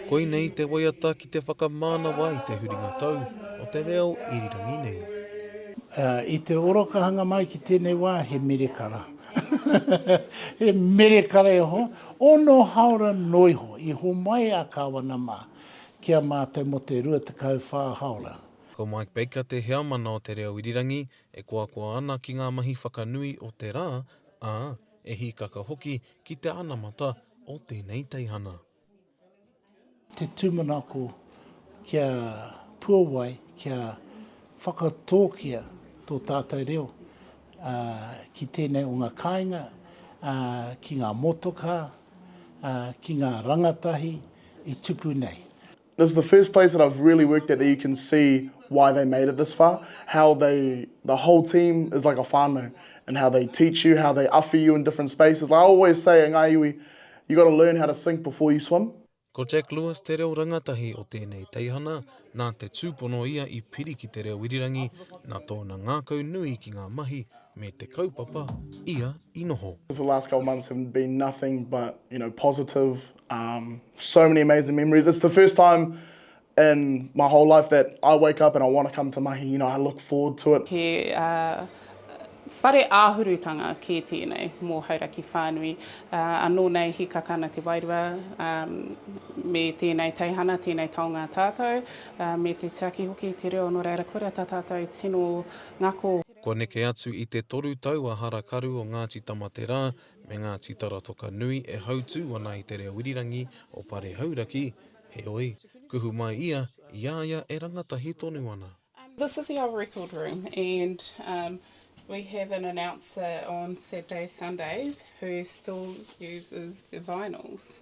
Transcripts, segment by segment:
Koinei te waiata ki te whakamānawa i te huringa tau o te reo irirangi nei. I te orokahanga mai ki tēnei wā, he merekara. He merekara e hoa, ono haora noa iho. I homai a Kāwana mā ki a mātou mō te 24 haora. Ko Mike Baker te heamana o te reo irirangi e koakoa ana ki ngā mahi whakanui o te rā, ā, E hīkaka hoki ki te anamata o tēnei teihana. Te tūmanako kia puawai, kia whakatōkia tō tātou reo ki tēnei o ngā kāinga, ki ngā motokā, ki ngā rangatahi i tupu nei. This is the first place that I've really worked at that you can see why they made it this far, how they, the whole team is like a whānau and how they teach you, how they awhi you in different spaces. Like I always say at Ngāi Iwi, you got to learn how to sink before you swim. Ko Jack Lewis te reo rangatahi o tēnei teihana, nā te tūpono ia i piri ki te reo irirangi, nā tōna ngākau nui ki ngā mahi me te kaupapa ia i noho. The last couple of months have been nothing but, you know, positive, Um, so many amazing memories. It's the first time in my whole life that I wake up and I want to come to mahi, you know, I look forward to it. He uh, whare āhurutanga kē tēnei mō Hauraki whānui. Uh, anō nei hikaka ana te wairua um, me tēnei teihana, tēnei taonga tātou, uh, me te tiaki hoki te reo nō reira kore ta tātou tino ngako. Kua neke atu i te toru tau a Harakaru o Ngāti Tamaterā me ngā tītara toka nui e hautū ana i te reo irirangi o Pare Hauraki, heoi, kuhu mai ia i a ia e rangatahi tonu ana. This is our record room and we have an announcer on Saturdays, Sundays who still uses the vinyls.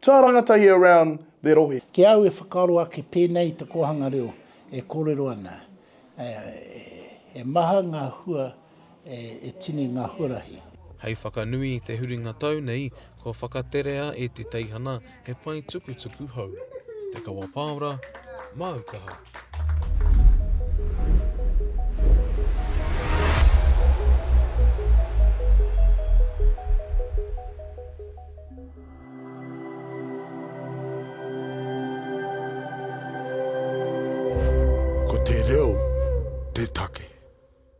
Tua rangata ia around the rohe. Ki au e whakaaro ake pēnei i te kōhanga reo e kōrero ana, he maha ngā hua e tini ngā huarahi. Hei whakanui i te huringa tau nei, kua whakaterea e te teihana he pae tukutuku hou. Te Kawa Paora, māu kaha. Ko te reo te take.